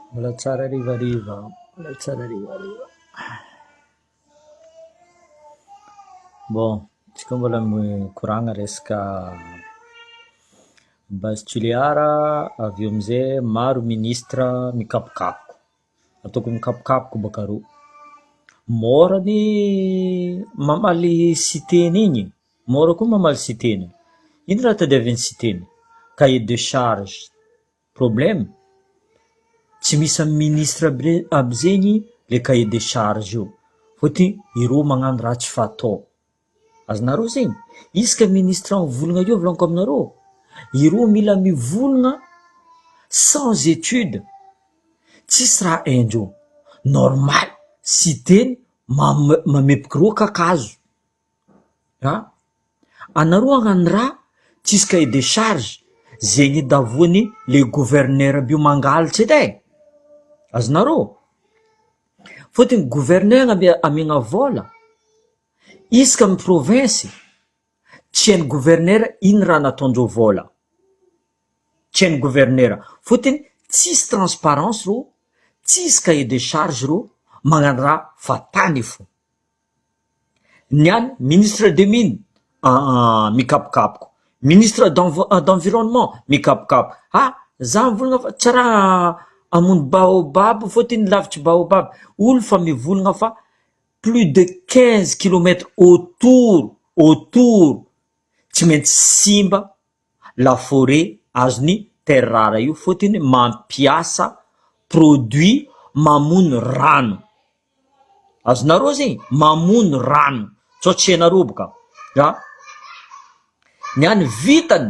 Mbola tsara harivariva an! Mbola tsara harivariva an! Bon, izy koa mbola mikoragna resaka base Toliar avy eo amizay maro ministre mikapokapoka, ataoko mikapokapoka bôka rô, môra ny mamaly siteny igny, môra koa ny mamaly siteny, ino raha tadiavin'ny siteny? Cahier de charge. Problème? Tsy misy amin'ny ministre aby aby zegny le cahier de charge io fôtony ireo magnano raha tsy fatao. Azonareo zegny? Isaka ministre mivolagna akeo volaniko aminareo, ireo mila mivolagna sans étude, tsisy raha haindreo, normal Siteny mame- mamepiky reo kakazo. An! anareo anga ny rà tsisy cahier de charge zegny edavoan'ny le gouverneur mbio mangaltsa edy e! azonareo ô? fôtony gouverneur mbio amiagna vôla isaka amin'ny province tsy hain'ny gouverneur ino raha nataondreo vôla, tsy hain'ny gouverneur fôtony tsisy transparence rô tsisy cahier de charge rô magnano rà fa tany fô. Ny any ministre des mines aa mikapokapoka, ministre d'environnement mikapokapoka, ah za mivolagna fa tsy raha hamono baobab fôt iny lavitry baobab olo fa mivolagna fa plus de quinze kilomètre autour autour tsy maintsy simba la forêt azon'i Terrare io fotony mampiasa produit mamono rano, azonareo zay? Mamono rano sao tsy hainareo boka a! Ny an'ny vitany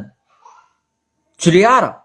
Tulear.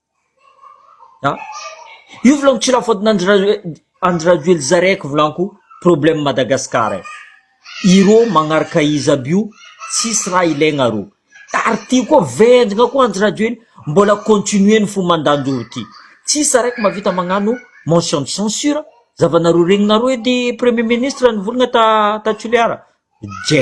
Io volako tsy la faute n'Andry Andry Rajoelina zaraiko volako problème Madagascar e, ireo manaraka izy aby io tsisy raha ilaigna arô, ary ty koa vendrana koa Andry Rajoelina mbola continuer ny fo mandanjoro ty, tsisy araiky mahavita magnano motion de censure, zavanareo regninareo edy premier ministre nivolagna ta Toliara, je.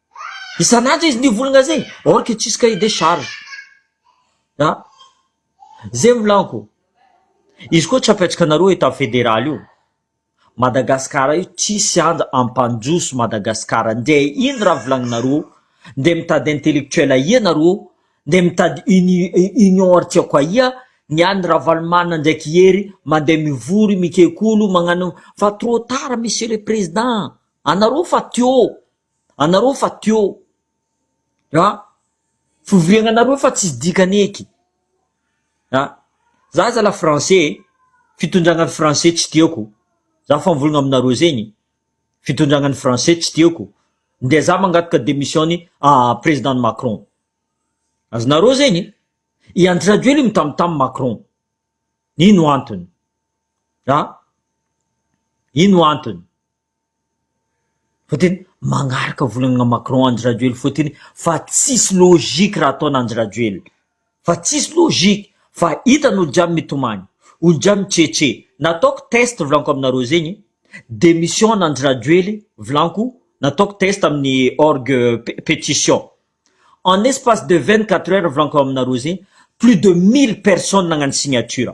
Isan'andro izy ny volagna zegny or que tsisy cahier des charges a! Zay milanko, izy koa tsy apetraka anareo etat federal io, Madagascar io tsisy andra ampandroso Madagascar, nde ino raha volagninareo, nde mitady intellectuel ahia nareo, nde mitady uni- union ary tiako ahia, ny an'i Ravalomanana ndraiky Hery mande mivory mikekolo magnano fa trop tard monsieur le président, anareo fa teo. anareo fa teo a fivoriagna anareo fa tsisy dikany eky a za zala français e fitondragnany français tsy tiako za fa mivolagna aminareo zegny fitondragnany français tsy tiako nde za mangataka demissiony a president macron azonareo zegny i andry rajoely mitamtam macron ino antony a ino antony Fa tena magnaraka volana Macron Andry Rajoely foa teny fa tsisy logique raha ataona Andry Rajoely fa tsisy logique fa hitany olo jiaby mitomany olo jiaby mitretre nataoko test volaniko aminareo zegny demission an Andry Rajoely volaniko nataoko test amin'ny orgue petition en espace de vingt quatre heures volaniko aminareo zegny plus de mille personnes nagnano signature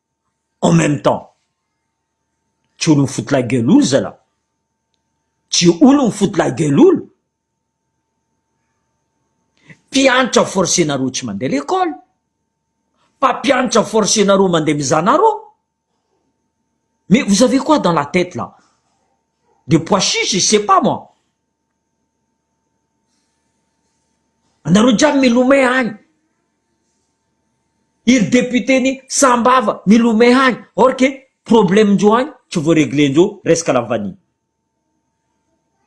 en même temps tsy olo mifoty la gueule olo zalah, tsy olo mifoty la gueule olo, mpiantra forcenareo tsy mandeha lekole, mpampiantra forcenareo mandeha mizana rò, mais vous avez quoi dans la tete là? Des pois chiches je sais pas moi, Anareo jiaby milomay any, iry député-n'i Sahambava milomay any, or que problème-ndreo any tsy voaregler-ndreo resaka Lavania.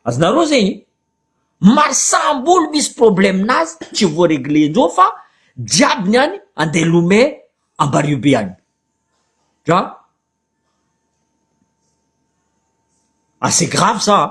Azonareo zegny? Maro saham-bolo misy problème-nazy tsy voaregler-ndreo fa jiaby ny any andeha lomay Ambaribe any. Dra, assez grave ça an!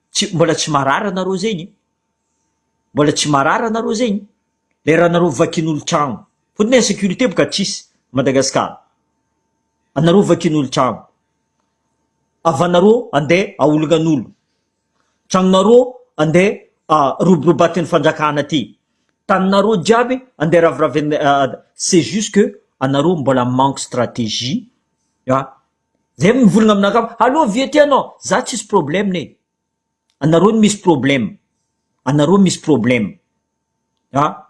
Tsy, mbola tsy marary anareo zegny e, mbola tsy marary anareo zegny, le raha anareo vakin'olo-tragno, fotony insécurité boka tsisy Madagascar, anareo vakin'olo-tragno, havanareo ande aolongan'olo, tragnonareo ande roborobatin'ny fanjakana aty, taninareo jiaby ande raviravin-, c'est juste que anareo mbola manque stratégie a. Zay no mivolagna aminakahy hoe allo vie ty anao? Za tsisy problème ne, anareo no misy problème, anareo misy problème a.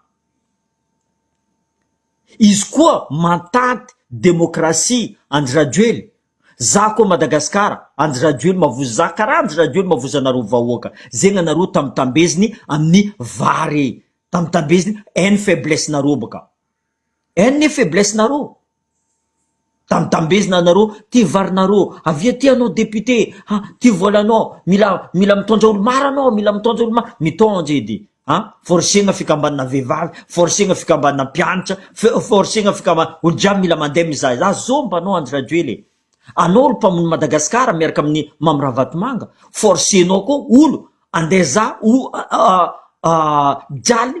Izy koa mantanty demokrasia Andry Rajoely, za koa Madagasikara Andry Rajoelina ma voa za karaha Andry Rajoelina ma voa zanareo vahoaka, zegny anareo tambitambezigny amin'ny vary, tambitambezigny any faiblesse nareo bôka. Any ny faiblesse nareo. Dambidambezina anareo, ty varinareo, avy aty anao député, ha, ty volanao, mila mila mitondra olo maro anao, mila mitondra olo maro, mitondra edy, ha, forcegna fikambanana vehivavy, forcegna fikambanana mpianatra, forcegna fikambanana, olo jiaby mila mandeha mizaha izaho, zao mba anao Andry Rajoely e, anao ry mpamono Madagascar miaraka amin'ny Mamy Ravatomanga, forcenao koa olo andeha za o, a, a, a, jaly,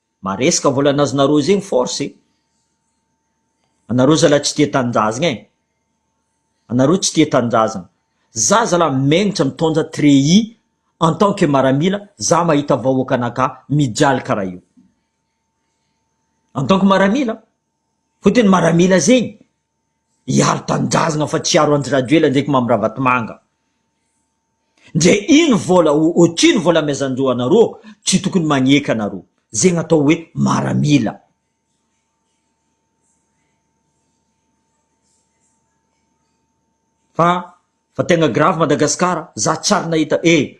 Maresaka vola an'azonareo zegny force e! Anareo zalahy tsy tia tanindrazagna e! Anareo tsy tia tanindrazagna! Za zalahy megnitra mitondra treillis en tant que maramila za mahita vahoaka anakah mijaly karaha io! En tant que maramila! Fotony maramila zegny! hiaro tanindrazagna fa tsy hiaro Andry Rajoela ndraiky Mamy Ravatomanga. Ndre ino vola o otrino vola amezandreo anareo tsy tokony magneky anareo. Zegny atao hoe maramila. Fa fa tegna grave Madagascar za tsary nahita eh.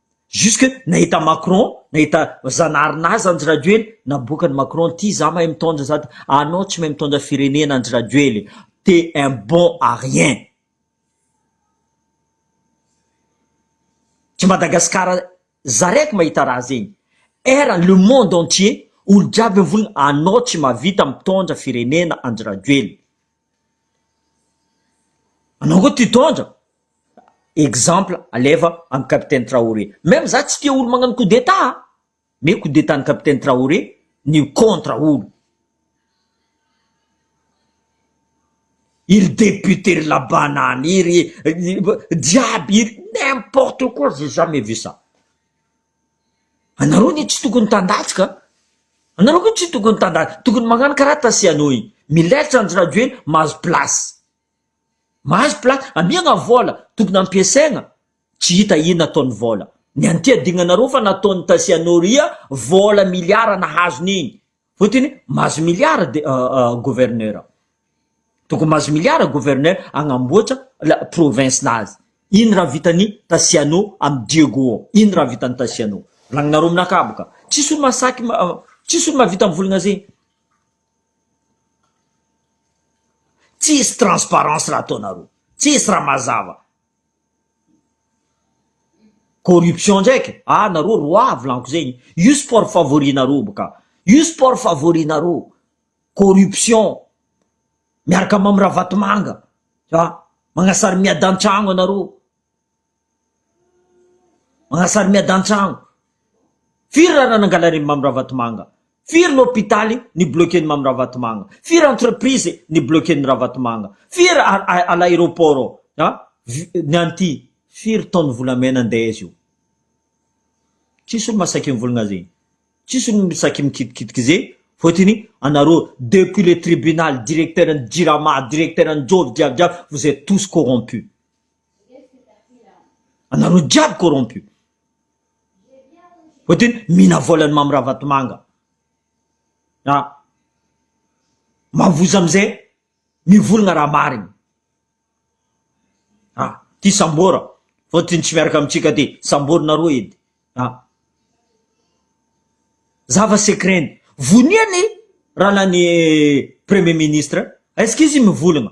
Jusque nahita Macron, nahita Zanarina aza Andry Rajoely, naboakan'i Macron ity za mahay mitondra sady anao tsy mahay mitondra firenena Andry Rajoely, t'es un bon à rien. Tsy Madagascar zaraiko mahita raha zegny. Era le monde entier olo jiaby mivony anao tsy mahavita mitondra firenena Andry Rajoely. Anao koa t'hitondra exemple alefa an'i capitaine Traoré. Même za tsy tia olo magnano coup d'état a! Mais coup d'état an'i capitaine Traoré ny contre olo. Iry député ry labanana iry, jiaby iry, n'importe quoi, j'ai jamais vu ça. Anareo anie tsy tokony tandahitsy ka! Anareo koa tsy tokony tandahitsy, tokony magnano karaha Tasiano igny, milaitra Andry Rajoely mahazo place. Mahazo place amiagna vola tokony ampiasaigna tsy hita ino ataony vola ny an'ity adignanareo fa nataony taxi anao ria vola milliard nahazo neny fotiny mahazo milliard de gouverneur tokony mahazo milliard gouverneur agnamboatra la province nazy ino raha vitany taxi anao amy diego ao ino raha vitany taxi anao volagninareo aminakahy boka tsisy olo masaky tsisy olo mahavita mivolagna zegny Tsisy transparence raha ataonareo. Tsisy raha mazava. Corruption ndraiky, ah nareo roi volaniko zegny. Io sport favori nareo boka. Io sport favori nareo. Corruption. Miaraka Mamy Ravatomanga. Magnasary miadantragno anareo. Manasary miadan-trano. Firy raha raha nangalariny Mamy Ravatomanga? Firy ny hopitaly nibloquen'i Mamy Ravatomanga? Firy entreprise nibloquen'i Ravatomanga? Firy à l'aéroport an? Ny an'ity firy taon'ny volamena andeha izy io? Tsisy olo masaky mivolagna zegny. Tsisy olo misaky mikitikitika ze fôtony anareo depuis le tribunal, directeur-n'ny jirama, directeur-n'ny jôro jiabijiaby vous etes tous corrompus. Anareo jiaby corrompu. Vao teny mihina volan'i Mamy Ravatomanga. Na mavozo amin'izay mivolagna raha marigny. A! Ty Sambora vao teny tsy miaraka amintsika ty. Samborinareo edy. A! Zava secret-ny. Vonia ny ralan'ny premier ministre. Est-ce que izy mivolagna?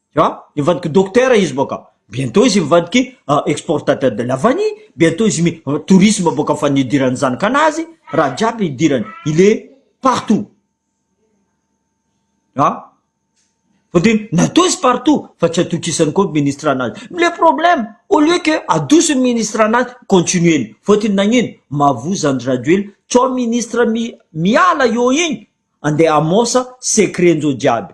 An, hivadiky Dokotera izy boka, bientôt izy mivadiky exportateur de la vanille, bientôt izy mi tourisme boka fa ny idiran'ny zanakanazy, raha jiaby idirany, il est partout. An, fa dia natoa izy partout fa tsy atokisany koa ny ministre anazy. Le problème, au lieu que adoso ny ministre anazy, continuer-ny. Fotony nagnino? Mavoza Andry Rajoelina, tsao ministre mi miala eo igny, andeha hamosa secret-njao jiaby.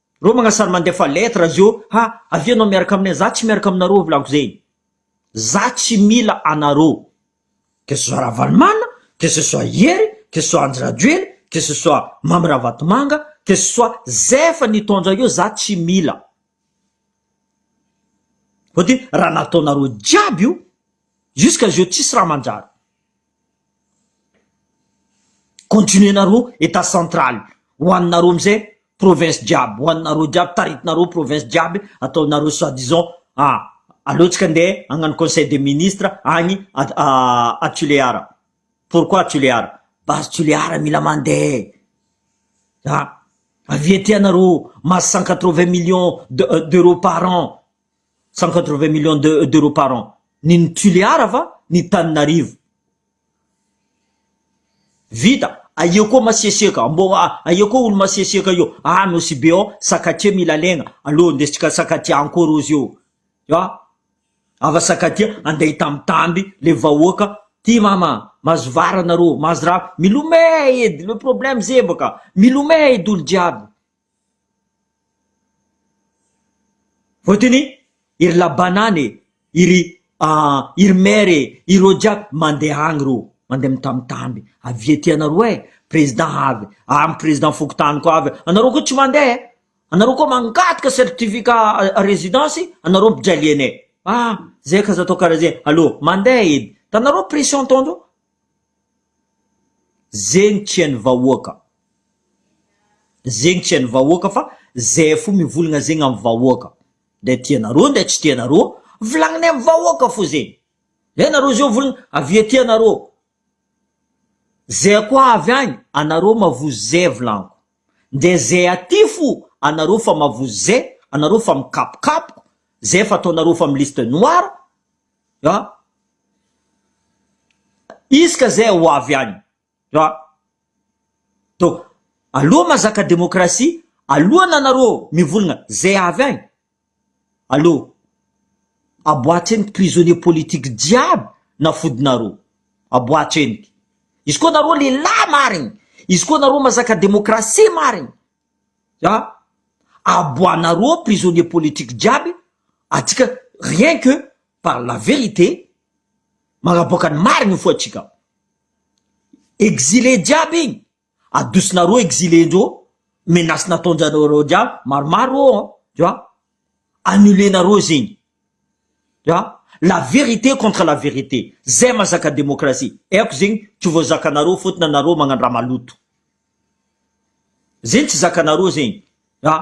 Reo magnasary mandefa lettre zio ha avia anao miaraka aminay za tsy miaraka aminareo ovolako zegny za tsy mila anareo que ce soit Ravalomanana que ce soit Hery que ce soit Andry Rajoely que ce soit Mamy Ravatomanga que ce soit zay efa nitondra io za tsy mila fa de raha nataonareo jiaby io jusqu'à zio tsisy raha manjary Continuer-nareo Etat central, ho anareo amizay province jiaby, ho anareo jiaby, taritinareo province jiaby, ataonareo soit disant a, aleontsika ande hagnano conseil des ministres agny a Tulear, pourquoi Tulear? Base Tulear mila mande a, avia aty anareo, masse cent quatre vingt millions d'euros par an, cent quatre vingt millions de d'euros par an ny ny tulear va ny taninarivo vita aeo koa masiasiaka mbo aeo koa olo masiasiaka eo ah nosy be ao sakatia mila legna aleo ndesitsika sakatia encore ozy eo ah ava sakatia andeha hitambitamby le vahoaka ty mama mahazo vary anareo mahazo rano milomey edy le problème zay baka milomey edy olo jiaby Fotony iry labanana e, iry iry maire e, ireo jiaby mandeha any reo, mandeha mitamitamby, avia aty anareo e, président avy any, président fokontany koa avy, anareo koa tsy mandeha e, anareo koa mangataka certificat résidence anareo mpijalieanay, ah zay ka aza atao karaha zay, aleo mandeha edy, hitanareo pression ataondreo. zegny tian'ny vahoaka, zegny tian'ny vahoaka fa zay fo mivolagna zegny amin'ny vahoaka, ndray tianareo ndray tsy tianareo, volagninay amin'ny vahoaka fo zegny, ndray nareo zao volagna avia aty anareo, zay koa avy agny anareo mavozo zay volagniko, ndray zay aty fo anareo efa mavozo zay, anareo efa mikapokapoko, zay efa ataonareo efa amin'ny liste noire, an! isika zay ho avy any an! donc aloha mazaka demokrasia alohan anareo mivolagna zay avy any aloha aboatreno ny prisonnier politique jiaby nafodinareo aboatreno izy koa nareo lehilahy marigny izy koa nareo mazaka demokrasia marigny Ya, aboanareo ao prisonnier politique jiaby atsika rien que par la vérité, magnaboaka ny marigny ny fo atsika. Exilé jiaby igny adosinareo exilé ndreo, menace nataonjareo jiaby maromaro ao an, tu vois, annuler nareo zegny, tu vois, la vérité contre la vérité, zay mazaka demokrasia, haiko zegny tsy voazakanareo fotony anareo magnano raha maloto. Zegny tsy zakanareo zegny a!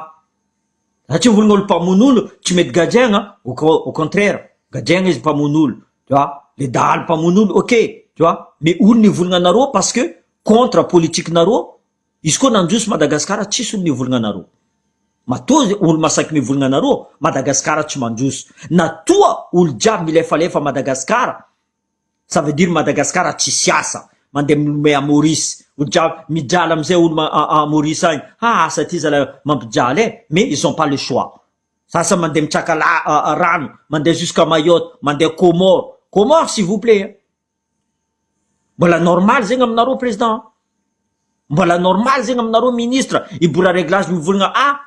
Satria hono olo mpamono olo tsy mety gadraina au con- au contraire gadraina izy mpamono olo tu vois, le dahalo mpamono olo ok tu vois, le olo nivolagna anareo parce que contre politikinareo, izy koa nandroso Madagasikara tsisy olo nivolagna anareo, matoa ze olo masaky mivolagna anareo Madagasikara tsy mandroso, na toa olo jiaby milefalefa Madagasikara, Ça veut dire Madagascar tsisy asa, mandeha milomay à Maurice, ho dra, midrala amizay olo à Maurice agny, ha asa ty zalahy mampijaly eh, mais ils ont pas le choix, sasany mandeha mitraka la, rano, mandeha jusqu'à Mayotte, mandeha Comores, Comores s'il vous plait eh, mbola normal zegny aminareo Président an, mbola normal zegny aminareo Ministre, i Bourareglage mivolagna ah,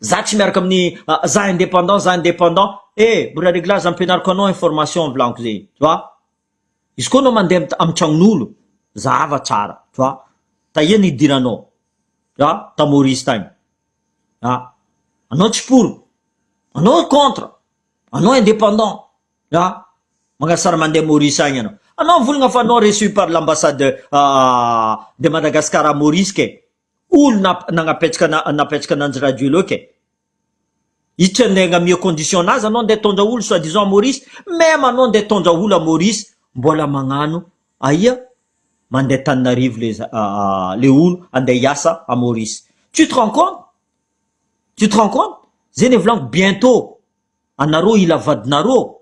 Za tsy miaraka amin'ny za indépendant za indépendant eh mbola réglage ampianariko anao information volaniko zay tu vois izy koa anao mandeha amin'ny tragnon'olo zahava tsara tu vois tahia ny hidiranao tu vois ta Maurice tagny ah anao tsy pour anao contre anao indépendant tu vois magnasara mandeha Maurice agny anao anao mivolagna fa anao reçu par l'ambassade de Madagascar à Maurice ke Olona nagnapetraka napetraka ananjy radio leo kay itr nde agnamia condition anazy anao nde tondra olo soit disant à Maurice meme anao nde tondra olo à Maurice mbola magnano aia mande taninarivo le le olo ande hiasa à Maurice tu te rend compte tu te rend compte zegny volagno bientot anareo hila vadinareo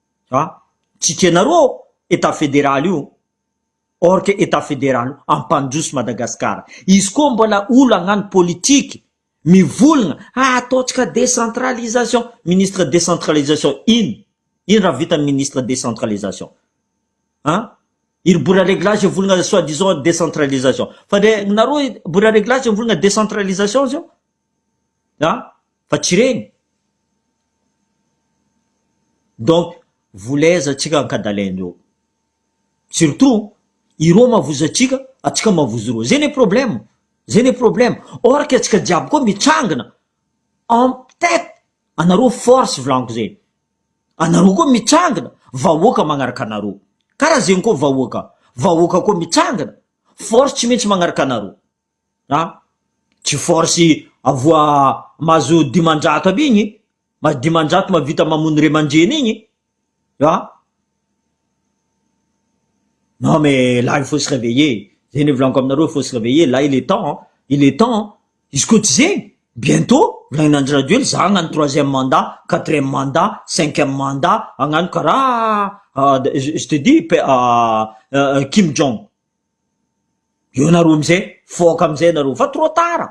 A! tsy tianareo ao Etat federaly io or que Etat federaly io hampandroso Madagasikara, izy koa mbola olana ny politique mivolagna ah ataontsika décentralisation, ministre décentralisation ino? ino raha vita ny ministre décentralisation? an! iry bora reglage mivolagna soit disant décentralisation fa ndre nareo bora reglage mivolagna décentralisation zao? an! fa tsy ireny donc volezantsika ankadalaina eo surtout ireo mavozo antsika antsika mavozo ireo zay le problème zay le problème or que antsika jiaby koa mitrangina en tête anareo force volaniko zay anareo koa mitrangina vahoaka magnaraka anareo karaha zegny koa vahoaka vahoaka koa mitrangina force tsy maintsy magnaraka anareo. a tsy force avoa mahazo dimanjato aby igny mahazo dimanjato mahavita mamono ray aman-dreny igny a non mais là il faut se reveiller zay nivolaniko aminareo il faut se reveiller là il est temps an il est temps an izy koa tsy zegny bientôt volanin' Andry Rajoely za hagnano troisième mandat quatrième mandat cinquième mandat hagnano karaha je te dis Kim Jong. Eo nareo amizay fôka amizay nareo fa trop tard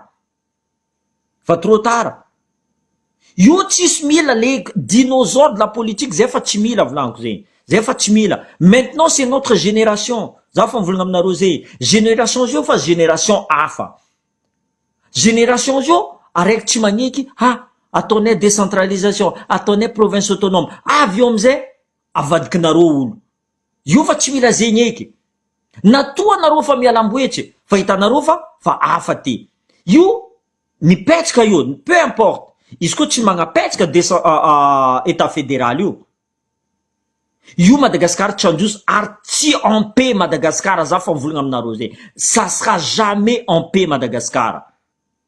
fa trop tard io tsisy mila le dinosaure de la politique zay fa tsy mila volaniko zegny zay fa tsy mila maintenant c'est notre génération za fa mivolagna aminareo zay génération zio fa génération hafa génération zio araiky tsy magneky ha ataonay décentralisation ataonay province autonome avy eo amizay avadikinareo olo Io fa tsy mila zegny eky. Na toa anareo fa mialamboetsy e, fa hitanareo fa fa hafa ty. Io mipetsaka io, peu importe, izy koa tsy magnapetsaka desa Etat federal io. Io Madagascar tsy handroso ary tsy en paix Madagascar za fa mivolagna aminareo zegny. Ça sera jamais en paix Madagascar.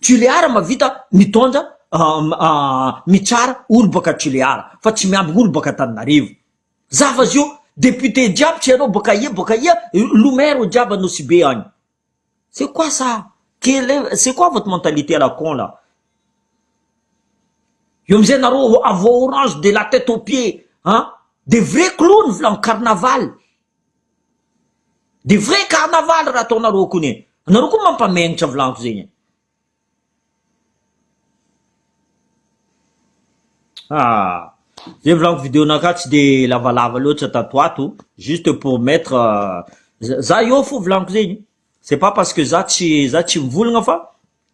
Tulear mavita mitondra mitsara olo baka tulear fa tsy miambigny olo baka Antananarivo zafa zio député jiaby tsy anao baka aia baka aia lo maire jiaby Anosibe agny c'est quoi ça quel est c'est quoi votre mentalité à la con là eo amizay narô avo orange de la tête au pied an de vrai clown volagny carnaval. Dia vrai carnaval raha ataonareo kony e! Anareo koa mampamenitra volantiko zegny e! Ah! Zay volantiko video naka tsy de lavalava loatra tato ato juste pour mettre za eo fo volantiko zegny c'est pas parce que za tsy za tsy mivolagna fa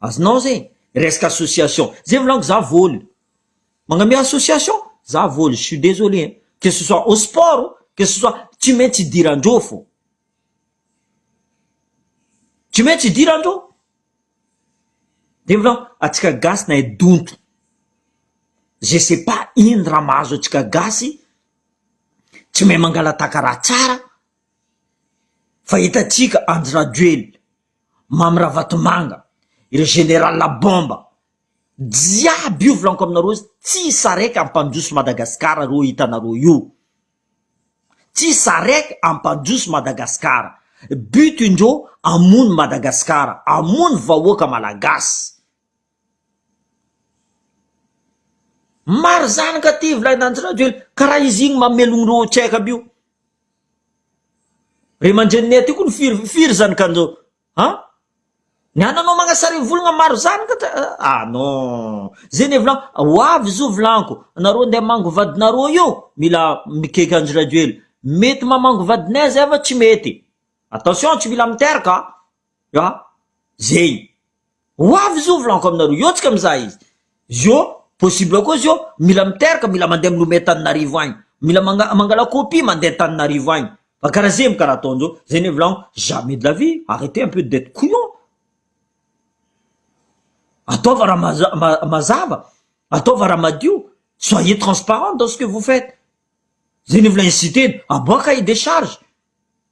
Azonao zay resaka association zay volaniko za voly magname association za voly je suis désolé hein que ce soit au sport que ce soit tsy maintsy idiran-dreo fô tsy maintsy idiran-dreo de volagno atsika gasy nahay donto je sais pas ino raha mahazo atsika gasy tsy mahay mangalataka raha tsara fa hitatsika Andry Rajoelina Mamy Ravatomanga, ireo général à bombe jiaby io volaniko aminareo tsy sarec hampandroso Madagascar reo hitanareo io, tsy sarec hampandroso Madagascar, but ndreo hamono Madagascar, hamono vahoaka Malagasy, Maro zany ka ty volahy nandry rajoel ka raha izy igny mamelogno reo tsy aiko aby io ry aman-dreninay aty koa firy firy zany ka ndreo an ny ananao magnasary volagna maro zany ka ah non zegny efa ho avy izy io volagno nareo andeha hamangy vadinareo io mila mikaiky andry rajoel mety mamangy vadinay zay fa tsy mety attention tsy mila miteraka an. Ya, zay. Ho avy izy io volaniko aminareo, eo tsika mizaha izy. Izy io possible koa izy io mila miteraka, mila mandeha milomea Antananarivo agny, mila manga- mangala copie mandeha Antananarivo agny, fa karaha zay mo ka raha ataon'zao, zay anie volaniko, jamais de la vie, arretez un peu d'etre couillon, ataova raha maza- ma- mazava, ataova raha madio, soyez transparent dans ce que vous faites, zay anie vola inciter-na, à moi cahier des charges.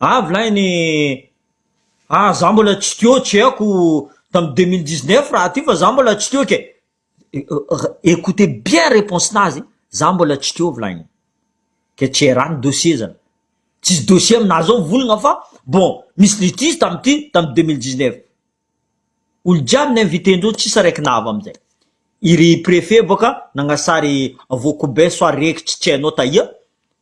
Avy lahy ny ah za mbola tsy teo tsy haiko tamin'ny deux mille dix neuf raha ty fa za mbola tsy teo ke écoutez bien réponse nazy za mbola tsy teo avy lahy e ke tsy raha ny dossier zany tsisy dossier aminah zao mivolagna fa bon misy litige tamin'ny ty tamin'ny deux mille dix neuf olo jiaby ny invité ndreo tsisy raiky nahava amizay i ry prefet boka nagnasary avokobe soit rekitry tsy hainao tahia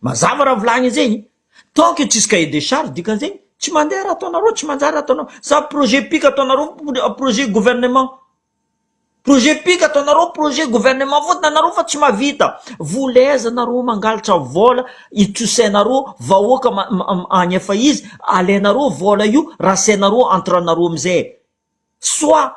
Mazava raha volagny zegny, tant que tsisy cahier de charge dikan'zegny tsy mandeha raha ataonareo, tsy manjary raha ataonareo, sa projet pika ataonareo projet gouvernement, projet pika ataonareo projet gouvernement fôtony anareo fa tsy mahavita, vola aiza nareo mangalatra vôla itsosainareo vahoaka agny efa izy alainareo vôla io rasainareo entre anareo amizay soit.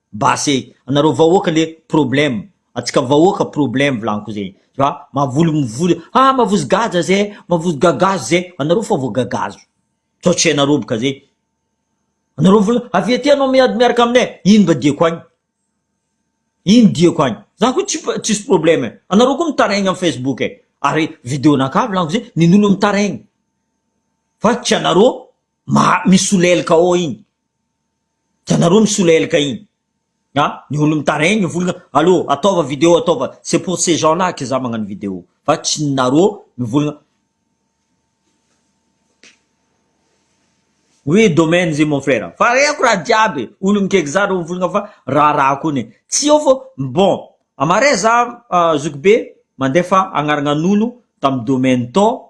Basy e! Anareo vahoaka le problème, atsika vahoaka problème volagniko zay, tu vois, mavoly mivoly ah mavozo gadra zay, mavozo gagazo zay, anareo fa vao gagazo, tsaotsainareo boka zay, anareo vola avy aty anao miady miaraka aminay, ino mba diako agny, ino diako agny, za ko tsy tsisy problème e, anareo ko mitaraigny am facebook e, ary video-nakà volagniko zay, nen'olo mitaraigny, fa tsy anareo. Ma misolelka ao iny. Hitanareo misolelka iny. A, ny olo mitaraigny ny volana, allo ataova video ataova, c'est pour ces gens là que za magnano video, fa tsy ny nareo mivolagna. Oui domaine zay mon frère, fa reko raha jiaby e, olo mikaiky za reo mivolagna fa raharaha kony e, tsy eo fô bon, amaray za zokibe mandefa agnaragnan'olo tam domaine tô,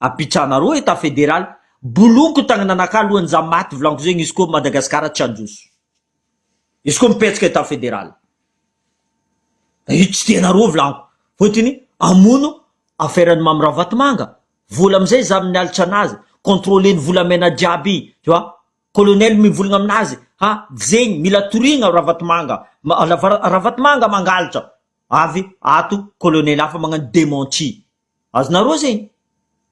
Apitrahana roa Etat Federal bolonko tagny nanaka alohan'ny za maty volanko zegny izy koa Madagascar tsy handroso. Izy koa mipetsaka Etat Federal. Da io tsy tianareo volanko. Fôtiny amono affaire an'i Mamy Ravatomanga. Vola amizay za mialatra anazy. Contrôler ny volamena jiaby. Tu vois? Colonel mivolagna aminazy ha zegny mila toriagna Ravatomanga. Ravatomanga mangalatra. Avy ato colonel hafa magnano dementi. Azonareo zegny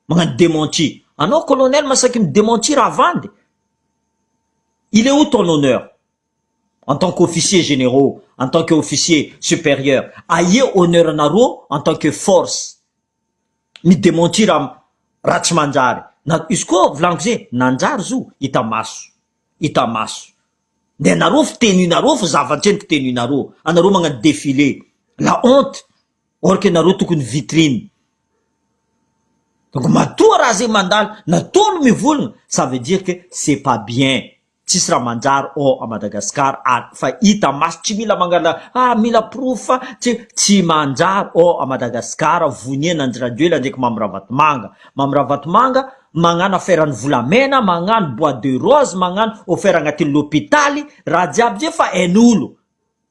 magnano dementi. Anao colonel masaky mi dementir havandy. Il est où ton honneur? En tant qu'officier généraux, en tant que officier supérieur, aia honneur nareo en tant que force? Mi dementir am raha tsy manjary. Na izy koa volagniko ze nanjary zo hita maso, hita maso. De anareo fy tenue nareo fy zava-tseho ny tenue nareo. Anareo magnano defile. La honte. or que nareo tokony vitrine donc matoa raha zay mandalo natoa no mivolagna ça veut dire que c'est pas bien tsisy raha manjary ao à Madagascar ary fa hita maso tsy mila mangala ah mila porofo fa tsy tsy manjary ao à Madagascar vonia n'Andry Rajoelina ndraiky Mamy Ravatomanga Mamy Ravatomanga magnano affaire ny volamena magnano bois de rose magnano offert agnatin'ny lopitaly raha jiaby zay fa ain'olo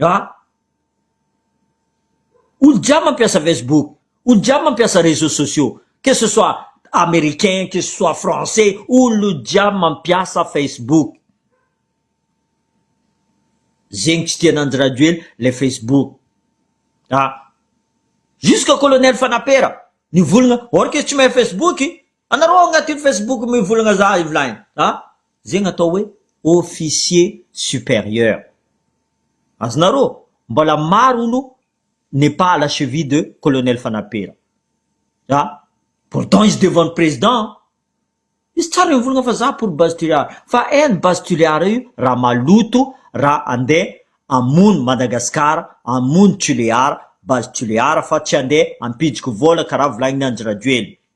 A, olo-jiaby mampiasa Facebook, olo-jiaby mampiasa réseaux sociaux, que ce soit Américain, que ce soit Français, olo-jiaby mampiasa Facebook. Zegny tsy tian'Andry Rajoely le Facebook. A, jusqu'à Colonel Fanapera, nivolagna, or que tsy mahay Facebook, Anareo ao agnatin'ny Facebook mivolagna za Eveline a! zegny atao hoe officier supérieur. Azonareo? Mbola maro olo n'est pas à la cheville de Colonel Fanapera. A! Pourtant izy devant ny Président a! Izy tsara mivolagna fa za pour Base Tulear fa en Base Tulear io raha maloto raha andeha hamono Madagascar hamono Tulear, Base Tulear fa tsy andeha hampiditry vôla karaha volagnin'i Andry Rajoelina.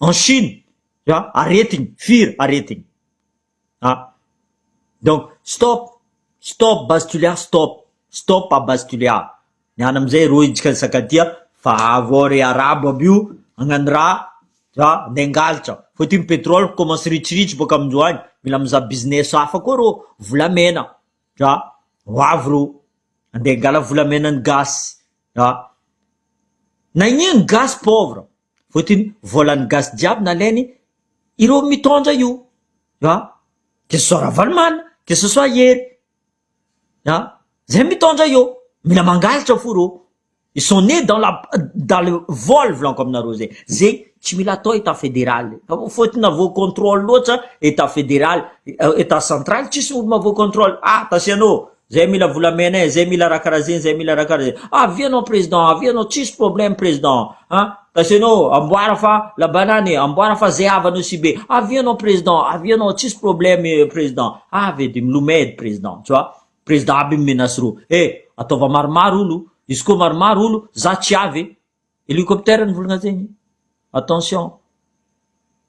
en chine za aretigny firy aretigny ah donc stop stop base tulear stop stop a base tulear ny any amizay reo intsika nisakatia fa avy ao re arabo aby io agnano ra za nde hangalatra fa ty ny petrole commence ritsiritsy boka amin-jo any mila mizaha business hafa koa reo volamena za ho avy reo ande hangala volamena ny gasy. Ah. Na iniana ny gasy pauvre. Fotony volan'ny gasy jiaby nalainy ireo mitondra io. Ah. Que ce soit Ravalomanana, que ce soit Hery. Ah. Zay mitondra io. Mila mangalatra fo reo. Ils sont nés dans la dans le vol volaniko aminareo zay. Zay tsy mila atao état fédéral. Fotony na voa contrôle loatra état fédéral, état central tsisy olo mahavoa contrôle. Ah, tasianô. Zay mila volamena eh, zay mila raha karaha zegny, zay mila raha karaha zegny. Avia anao président, avia anao tsisy problème président an! Parce anao amboara fa la banane, amboara fa zay havanao sy be. Avia anao président, avia anao tsisy problème président. Avy edy milomay edy président tu vois. Président aby mi-menace reo. Eh! Ataova maromaro olo, izy koa maromaro olo, za tsy avy eh. Hélicoptère ny volagna zegny attention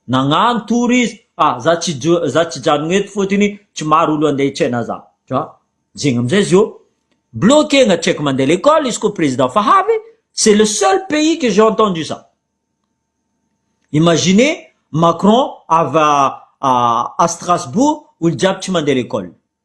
nagnano tour izy fa za tsy jo- za tsy hijanogno eto fôtony tsy maro olo ande hitsena za dra zegny amizay izy ô bloquegna tsy aiko mande lekôly izy kô président fa havy c'est le seul pays que j'ai entendu ça imagine Macron avy à Strasbourg olo jiaby tsy mande lekôly.